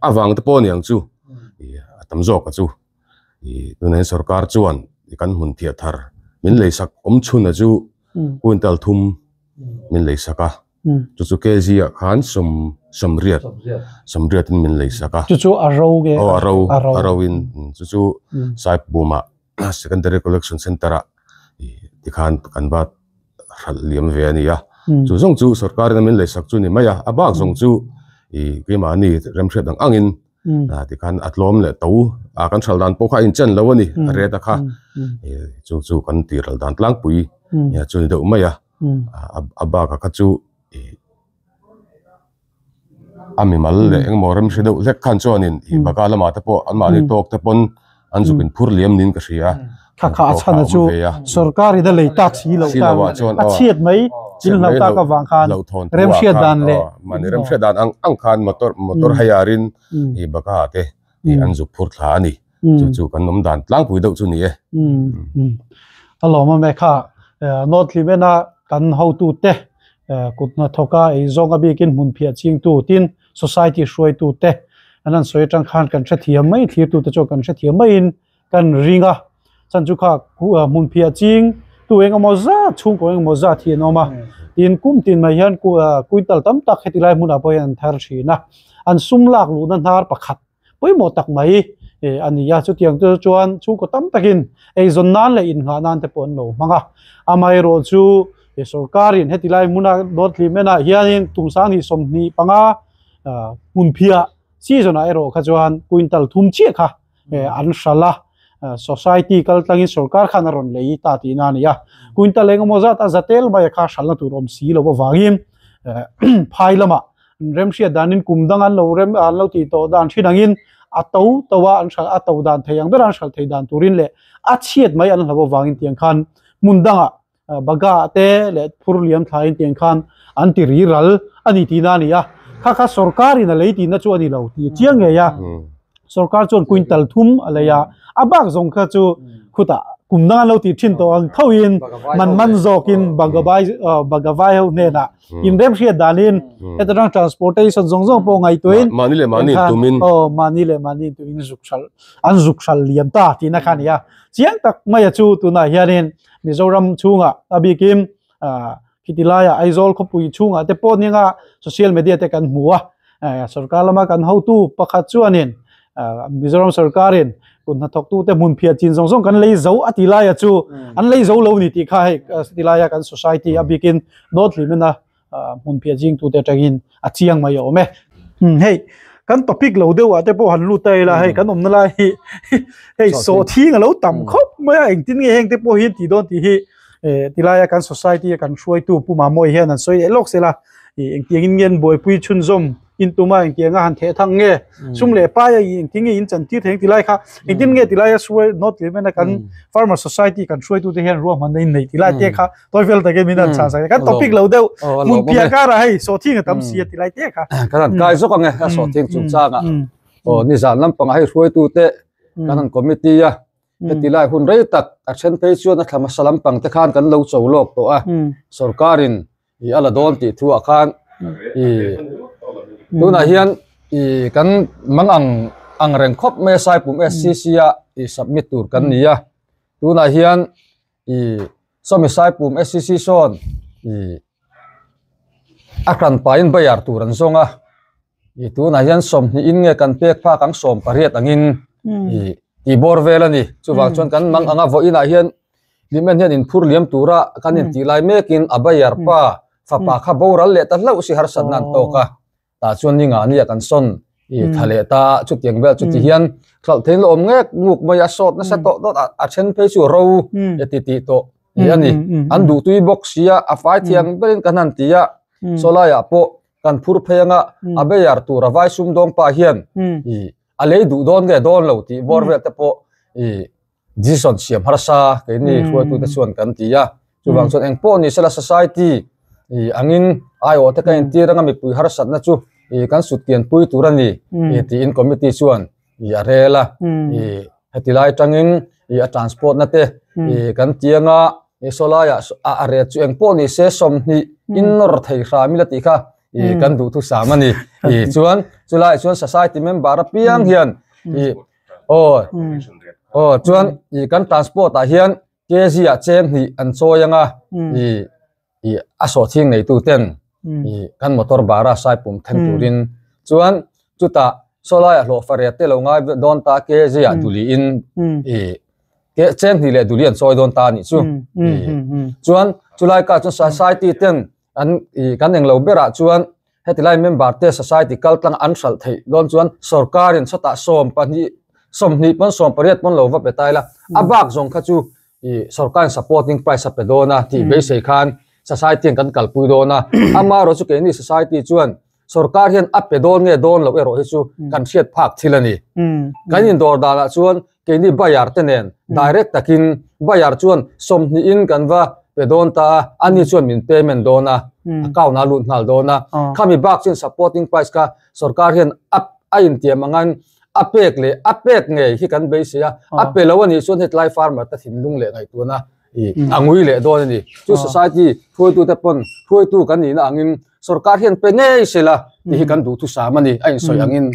avang te pawh a niang chu ih a tam zawk a chu ih tunah hian sorkar chuan ih kan hmun thiah thar min lei sak awm chhunah chu puan tal thum min lei sak a. chu chu kg ah khan sawm sawmriat sawmriat in min lei sak a chu chu a ro nge aw a ro a ro in chu chu saipum ah secondary collection centre ah ti khan kan va hralh liam ve a ni a chu zawng chu sorkar in a min lei sak chu a ni mai a a bak zawng chu i keimahni remhriat ang ang in a ti khan a tlawm leh to a kan hralh dan pawh kha a inchen lo a ni a ret a kha chung chu kan tih ralh dan tlangpui nia chu a ni deuh mai a. a bak ah kha chu ih a mimal leh eng emaw rem hre deuh hlek khan chuan in ih baka lam ah te pawh an mahni tawk te pawn an zuk in phur liam niin ka hria tawk ah a awm ve a hlauhthawn pua khan aw mahni rem hriat dan ang ang khan motor motor hire in ih baka ah te. tih an zuk phur thla a ni. Chu chu kan awm dan tlangpui deuh chu ni e. A lawm a Mekha, North Hlimen a kan hotute, kut hnathawka eizawnga bikin hmun phiah chingtu tin society hruaitute an han sawi atang khan kan hrethiam mai, thlir tute chuan kan hrethiam maiin, Kan ring a, chan chu kha hmun phiah ching, tu eng emaw zat, chhungkaw eng emaw zat hi an awm a. Tin kum tin mai hian kuital tam tak heti lai hmunah pawh hian an thar thin a. An sum lak luhna hnar pakhat pawimawh tak mai a ni a. Chutiang te chu chuan chhungkaw tam takin eizawn nan leh inngah nan te pawh an lo hmang a. Amaherawh chu sorkarin heti lai hmuna North Limenah hianin kum sangni sawmhnih panga hmun phiah season-ah erawh kha chuan kuintal thum chiah kha an hral a, society kal tlangin sorkar khan a rawn lei ta tihna a ni a. Quintal engemaw zata zatel maia kha hralna tur awm si lo avangin phai lama an remhriat danin kum danga an lo rem an lo tih tawh dan thin angin a to to a an hral a to dan thei ang bera an hral thei dan turin leh a chhiat mai an hlauh avangin tiang khan hmun dangah Baga te leh phur liam thla in tiang khan an ti ri ral a ni tihna a ni a. Kha kha sorkar in a lei tihna chu a ni lo tih a chiang ngei a. Sorkar chuan quintal thum a lei a, a bak zawng kha chu khutah kum dang an lo ti thin tawh ang tho in man man zawk in baga vai baga vai ho hnenah inrem hriat dan in heta tang transportation zawng zawng pawh ngaihtuah in mahni leh mahni in tum in aw mahni leh mahni in tum in zuk hral an zuk hral liam ta tihna kha a ni a. Chiang tak mai a chu tunah hian in. Mizoram chhunga a bikin khiti laia Aizawl khawpui chhunga te pawh ninga social media te kan hmu a, sorkar lama kan hotu pakhat chuanin Mizoram sorkarin kut hna thawk tu te hmun phiat chin zawng zawng kan lei zo a ti laia chu an lei zo lo ni tih kha hei khiti laia kan society a bikin nawt hlim in a ah hmunphiah zingtute atangin a chiang mai a awm e. Umm hei kan topic lo deuh ah te pawh han lut ta ila hei kan awmna lai hi hei sawh thing a lo tam khawp mai a, engtin nge heng te pawh hi an tih dawn tih hi eh ti laia kan society a kan hruaitu pu Mamawii hian an sawi leh lawk sela ih engtiang in nge an buaipui chhunzawm In tuma engtiang a han theh thang nge? Sum leh pai a engtin nge in chan tir thei ang tilai kha, engtin nge tilai a suai nawt leh mena kan Farmer Society kan hruaitute hian ruahman a inneih tilai te kha tawi fel takin min han chhang sak. Kan topic lo deuh, hmun piah karah hei sawhthing a tam si a tilai te kha. Kan han kai zawk ang e a sawhthing chungchangah. Aw nizan lampangah hei hruaitute kan han committee a, hetilai hun rei tak a then phei chuan a thlama sa lampangte khan kan lo chaw lawk tawh a, sorkarin ih a la dawn tih thu ah khan ih tunah hian ih kan mang ang ang reng khawp mai a saipum SCC a ih submit tur kan ni a, tunah hian ih sawmi saipum SCC sawn ih a hran paiin bayar tur an zawng a. Ih tunah hian sawmhnih in nge kan pek phak ang sawm pariat angin ih tih bawr vel a ni. Chuvang chuan kan mang anga vawiin ah hian Hlimna hian in phur liam tura kan in tih lai mekin a bayar pa fapa kha boral leh ta hlauh si harsatna an tawk a. Tah chuan ni ngah ania kan sawn ih thla leh ta a, chutiang vel chuti hian hlauh theih in la awm ngek nguk mai a, sawt nasa tawh tawt a, a then phei chu ro e ti tih tawh nih a ni. An duhtui bawk sia a fai thiang berin ka hna'n ti a, saw laiah pawh Kan phur phei anga a beiar tur a vai sumdawng pa hian i a lei duh dawn nge dawn lo tih bawr vel te pawh i decision siam harsa keini hruaitute chuan kan ti a. Chuvang chuan eng pawh ni se la society i angin aiawh taka entir anga mipui harsatna chu i kan sutkianpui tur a ni tiin committee chuan. ih a rel a ih heti lai atangin ih a transport na te ih kan ti anga ih saw laia ah a ret chu engpawh ni se sawmhnih in nawr thei hra mila tih kha ih kan duh thusam a ni ih chuan chulai ah chuan society member apiang hian ih aw aw chuan ih kan transport ah hian-- Kzia cheng hnih an chawi anga i i a sawhthing neitu ten i kan motor bara sai pum them turin chuan chuta sawlai a hlawh fariat te lo ngai dawn ta kzia duli in i ke cheng hnih leh duli an chawi dawn ta ni chu i chuan chulai ka chuan society ten an ih kan englo berah chuan heti lai member te society kal tlanga an hralh theih dawn chuan sorkarin sawtah sawm pahnih sawmhnih pawn sawm pariat pawn lo va pe ta ila a bak zawng kha chu ih sorkarin supporting price a pe dawn a tih beisei khan society an kan kalpui dawn a amaherawhchu keini society chuan Sorkar hian a pe dawn nge dawn loh erawh hi chu kan hriat phak thil a ni. Kan indawr danah chuan keini buyer te nen direct takin buyer chuan sawmhnihin kan va pe dawn ta a, ani chuan min payment dawn a, account ah a lut nghal dawn a. Khami bak chuan supporting price kha sorkar hian a a intiam angin a pek leh a pek ngei hi kan beisei a, a pe loh anih chuan hetlai farmer te thinlung leh ngaihtuahna a ngui leh dawn a ni. Chu society hruaitute pawn hruaitu kan nihna angin sorkar hian pe ngei sela ni hi kan duh thu sam a ni a insawi angin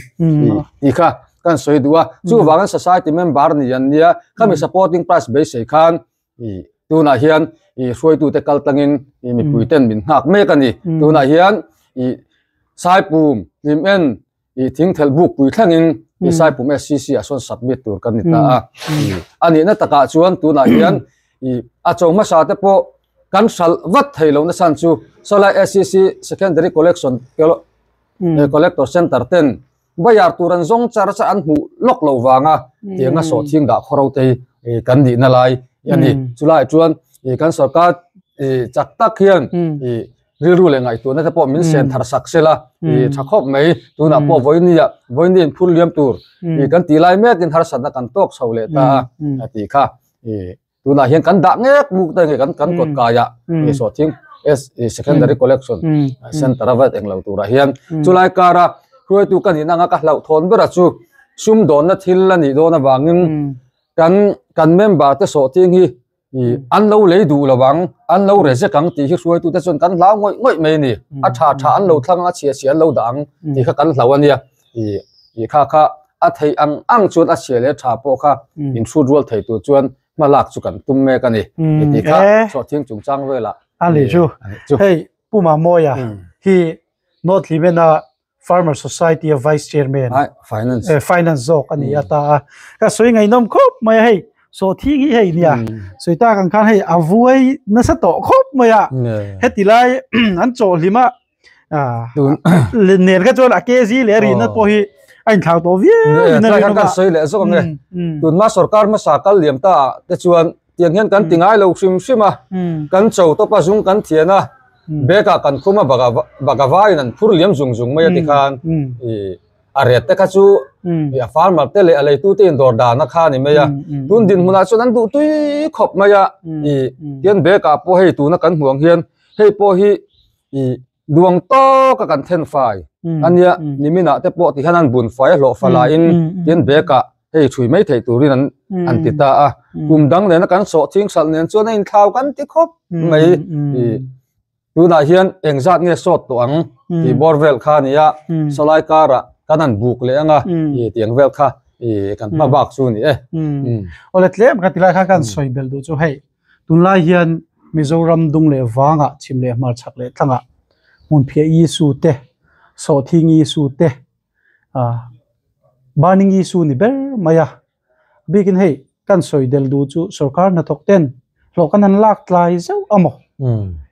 tih kha kan sawi duh a chu vang hian society member ni an nia khami supporting price beisei khan i tunah hian i hruaitu te kal tlangin i mipui ten min nghak mek a ni tunah hian i saipum hlim en i thingthel buk pui thlengin i saipum SCC a sawn submit tur kan ni ta a a nihna takah chuan tunah hian i a chaw hmasa te pawh kan hral vat thei lo nasan chu Salai SCC secondary collection collector center ten bayar tur an zawng char char an hmuh lawk lo vanga tianga sawh thing dah khaw ro te hi kan nihna lai a ni chulai chuan i kan sorkar i chak tak hian i Rilru leh ngaihtuahna te pawh min sen thar sak se la, i tha khawp mai. Tunah pawh Vawini-a, Vawini in phur liam tur i kan tih lai mekin harsatna kan tawk chho leh ta a, a ti kha. I tunah hian kan dah ngek muk te nge kan kan kawt kaia i Sawhthing Secondary Collection Centre-a vat eng lo turah hian chulai kara hruaitu ka nih anga ka hlauh thawn bera chu sum dawnna thil a nih dawn avangin kan kan member te sawhting hi i an lo lei duh lo ang an lo re zek ang tih hi hruaitu te chuan kan hlau ngawih ngawih mai a ni a tha tha an lo thlang a a chhia chhia an lo dah ang tih kha kan hlau a nia i i kha kha a thei ang ang chuan a chhia leh tha pawh kha in hrut rual thei tur chuan hma lak chu kan tum mek a ni ti kha chhuah thiang chung chang velah a ni chu hei puma mawia hi nawtlimena Farmer Society a Vice Chairman. Ai, Finance. Eh, Finance zawk a ni a ta a. Ka sawi ngaihnawm khawp mai a hei, sawhthing hi hei nia, sawi tak ang khan hei a vuai nasa tawh khawp mai a. Heti lai an chaw hlim a, nen kha chuan a KZ leh a rihna pawh hi a inthlak tawh viau in a rinawm a. Tun hma sorkar hmasa kal liam ta te chuan tiang hian kan ti ngai lo hrim hrim a kan chaw tawpa zung kan thian a bag ah kan khum a bag ah bag a var in an phur liam zung zung mai a ti khan i a riat te kha chu i a farmer te leh a lei tu te in dawr dan a kha a ni mai a tun din hmun ah chuan an duh tui khawp mai a i tian bag ah pawh hei tuna kan hmuh ang hian hei pawh hi i Luang tâwk a kan then fai a nia, Niminah te pawh ti hian an bun fai a hlawh fa la in tin bêkah hei ṭhui mai theih tûrin an an ti ta a. Kum dang nêna kan sawh chingsalh nên chuan a inthlau kan ti khawp mai. Tûnah hian eng zât nge sawt tawh ang tih bawr vêl kha a ni a, Sawlai kârah kan han bûk leh ang a tih ang vêl kha kan hma bâk chu a ni e. Awle tlem ka ti lai kha ka han sawi bel duh chu hei Tunlai hian Mizoram dung leh vangah chim leh hmarchhak leh tlangah hmunphiaii issue te, sawhthingi issue te, burning issue ni ber mai a. Bikin hei kan sawi del duh chu sorkar hnathawk ten hlawh ka nan lak tlai zeuh a maw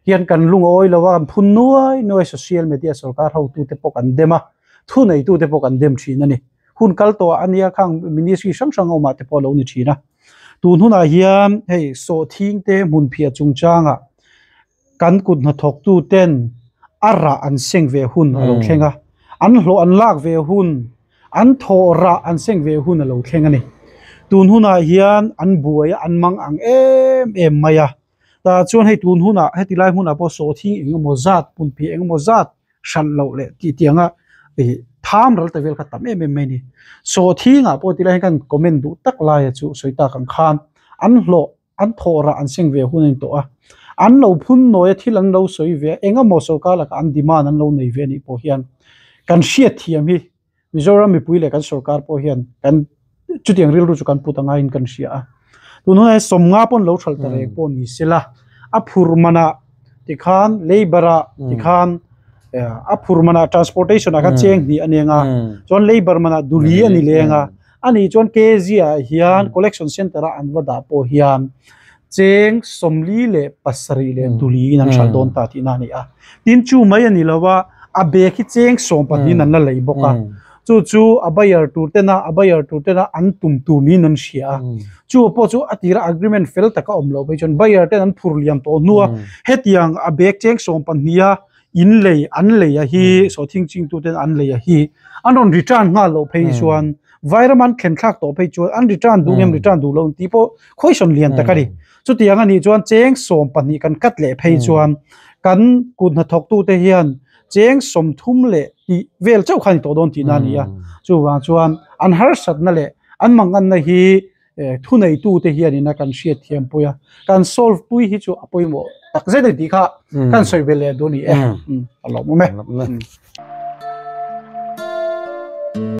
hian kan lung a awi lo a, kan phun nuai nuai social media sorkar hotu te pawh kan dem a, thu nei tu te pawh kan dem thin a ni. Hun kal tawh ah ania khang ministry hrang hrang awm ah te pawh a lo ni thin a. Tun hunah hian hei sawhthing te hmunphiah chungchanga kan kut hna thawk tu ten a rah an seng ve hun a lo thleng a, an hlawh an lak ve hun, an thawh rah an seng ve hun a lo thleng a ni. Tun hunah hian an buai a, an mang ang em em mai a. tah chuan hei tun hunah heti lai hmunah pawh sawhthing eng emaw zat punphi eng emaw zat hralh loh leh tih tiang a ih tham ral ta vel kha tam em em mai a ni sawhthingah pawh ti lai hian ka rawn comment duh tak laia chu sawi tak ang khan an hlawh an thawh rah an seng ve hun a ni tawh a an lo phun nawi a thil an lo sawi ve a eng emaw sorkar lakah an demand an lo nei ve a nih pawh hian kan hriatthiam hi. Mizoram mipui leh kan sorkar pawh hian kan chutiang rilru chu kan put ang aiin kan hria a. Tun hunah hian sawmnga pawn lo thal ta reng pawh ni sela, a phur manah tikhan, labour-a tikhan, a phur manah transportation-a kha cheng hnih a ni ang a, chuan labour manah duli a ni leng a. Ani chuan KZIA hian collection centre a an va dah pawh hian cheng sawmli leh pasarih leh duli in an hralh dawn ta tihna a ni a. Tin chu mai a ni lo a, a bag hi cheng sawm pahnihin an la lei bawk a. Chu chu a buyer tur tena, a buyer tur tena an tum tur niin an hria a. Chu pawh chu a tira agreement fel tak a awm loh phei chuan buyer ten an phur liam tawh hnu a, hetiang a bag cheng sawm pahnia in lei an lei a hi saw thing ching tu ten an lei a hi an rawn return nghal loh phei chuan vai ram an thlen thlak tawh phei chuan an return duh em return duh lo ti pawh khawihsawn lian tak a ni chuti ang ani chuan cheng sawm pahnih kan cut leh phei chuan kan kut hna thawk tu te hian cheng sawm thum leh tih vel chauh kha ni tawh dawn tihna a ni a chuvang chuan an harsat na leh an mangan na hi eh thuneitute hianin a kan hriatthiam pui a, kan solve pui hi chu a pawimawh tak zet a ni tih kha ka han sawi ve leh a duh a ni e. Alaw mawm e.